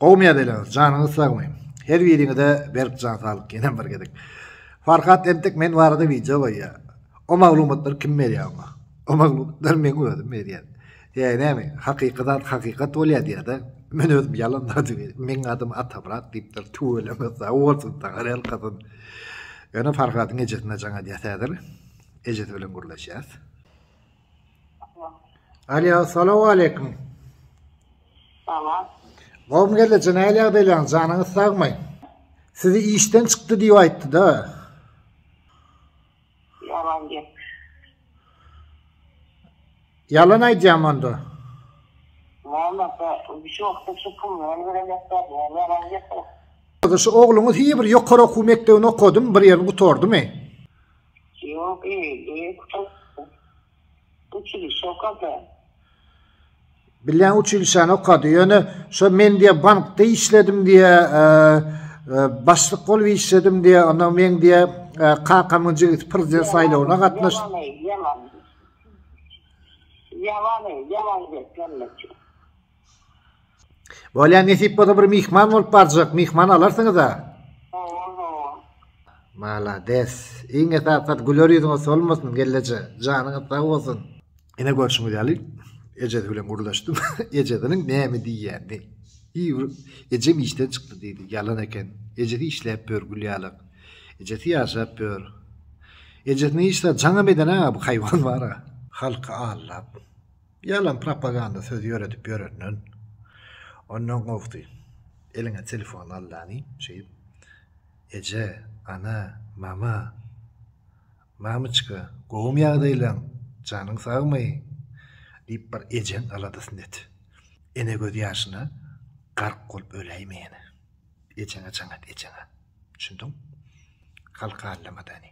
Gowmy ýadaýlaryňyz janyňyz sagmy her biriňize berk jan saglyk ýenem bir gezek Farhat entek men barada wideo goýýa o maglumatlary kim berýä oňa o maglumatlary men özüm berýän ýa näme hakyky zat hakykat bolýa diýada men özüm ýalan zat meň adym Atamyrat diýipdir tüweleme sag bolsun saňa ýalkasyn ýöne Farhadyň ejesine jaň edýäs häzir ejesi bilen gürleşýäs. Alýa, salam aleýkum. Salam. Gowmy geldi, nähili ýagdaýlaryň, janyňyz sagmy? Sizi işden çykdy diýip aýtdy-da. Ýalan gep. Ýalan aýdýam onda. Nämekä, şu wagtda şu pul bilen göremezler, ýalan gep. Şu ogluňyz hiýe bir ýokary okuw mekdebini okadym, bir ýerini gutardymy? Ýok eýýe gutardy. Uçilişe okady. Bilýän uçilişäni okady. Ýöne şo men diýe bankda işledim diýe başlyk bolup işledim diýe ondan men diýe kakamyň jigisi prezident saýlawyna gatnaş. Ýalan. Ýalan. Ýalan geplenme. Bolýa nesip bolsa bir myhman bolup barjak, myhman alarsyňyza. Malades. Iň esasy zat güler ýüzüňiz solmasyn gelneje. Janyňyz sag bolsun. Ine görşüňiz ýaly ejesi bilen gürleşdim. Ejesiniň näme diýýänini. Iýr, ejem işden çykdy diýdi. Ýalan eken. Ejesi işläp ýör gül ýalak. Ejesi ýaşap ýör. Ejesini hiç zat jaňam eden-ä bu haýwan bar-a. Halky aldap. Ýalan propaganda söz ýöredip ýörenden ondan gowsy eliňe telefon al dany şeýdip eje, ana, mama, mamyçka gowumy ýagdaýlaň, janyň sagmy diýip bir ejeň aladasyny et. Ene göz ýaşyna gark bolup öläýme ýene. Ejeňe jaň et ejeňe. Düşündiň? Halka allama dany.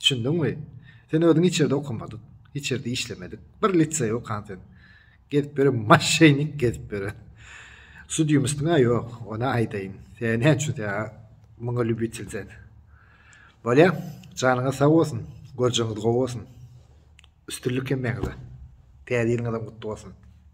Düşündiňmi? Sen özüň hiç ýerde okamadyk, hiç ýerde işlemedik, bir liseý okan sen. Gezip ýören maşenik gezip ýören. Sudýumystyň-a ýok, ony aýdaýyn. Sen näme üçin sen muňa lýubitel sen? Bolýa, janyňyz sag bolsun, görjegiňiz gowy bolsun. Üstünlik hemmäňize. Täze ýylyňyzam gutly bolsun.